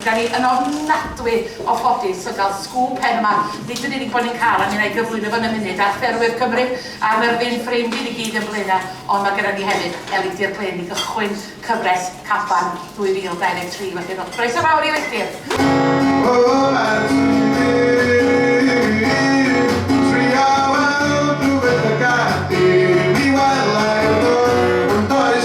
Da ni yn ofnadwy o ffodus o gael sgŵp hen yma, nid yn unig bod ni'n cael a mi'n ei gyflwyno fo'n y munud ar Ffermwyr Cymru a'r Myrddin, ffrind i ni gyd yn Blaenau, ond mae gyda ni hefyd elidir Glyn i gychwyn cyfres Caban 2023. Felly rhowch groeso fawr i elidir!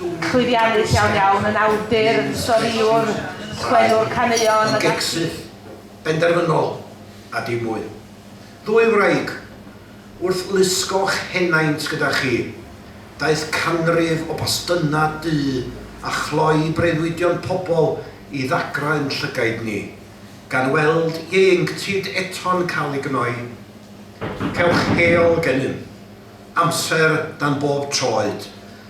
Llwyddiannus iawn iawn, yn awdur, yn storïwr, sgwennwr caneuon, ac ati. Ymgegsydd, benderfynol, a dim mwy. Ddwy wraig, wrth lusgo'ch henaint gyda chi, daeth canrif o bastynnau du a chloi breuddwydion pobl i ddagrau yn llygaid ni, gan weld ieuenctid eto'n cael ei gnoi. Cewch hel gennym. Amser dan bob troed.